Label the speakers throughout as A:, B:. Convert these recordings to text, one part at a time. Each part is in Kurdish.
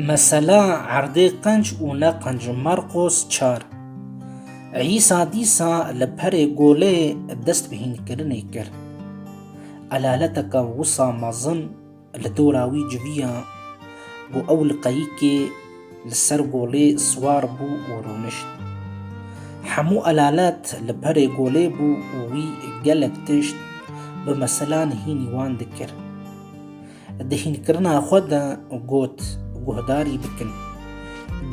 A: Mesela erdê qenc û ne qenc Marqos çar Îsa dîsa li perê golê dest bi hînkirinê kir. Elaleteke wisa mezin li dora wî civiya ku ew li qeyikê Li ser golê siwar bû û rûnişt. Hemû elalet li perê golê bû û wî gelek tişt bi meselan hînî wan dikir. Di hînkirina xwe de got guhdarî bikin.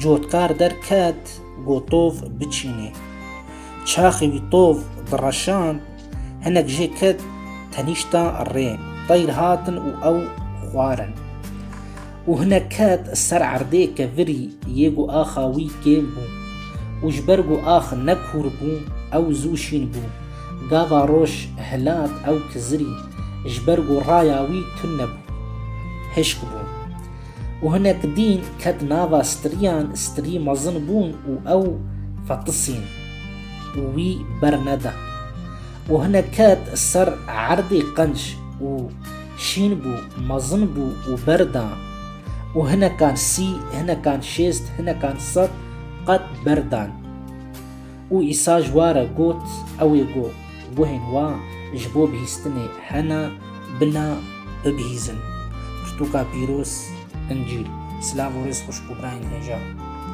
A: Cotkar derket got tov biçînê. Çaxê wî tov direşand, hinek jê ket tenîşta rê. Teyr hatin û ew xwarin. Û hinek ket ser erdê ke virî yê ku axa wî kêm bû. Û ji ber ku ax ne kûr bû, ew zû şîn bû. Gava roj hilat ew kizirî, ji ber ku raya wî tun nebû. Hişk bû. Û hinek dîn ket nava stiriyan, stirî mezin bûn û ew fetisîn. Û wî berneda. û hinek ket ser erdê qenc û şîn bû, mezin bû û ber da û hinekan sî, hinekan şêst, hinekan sed qet ber dan. Û Îsa ji wa re got, Ew ê got, guhên wa ji bo bihîstinê hene, bina bibihîzin. Pirtûka Pîroz, Încîl. Silav û rêz xweş ku birayên hêja.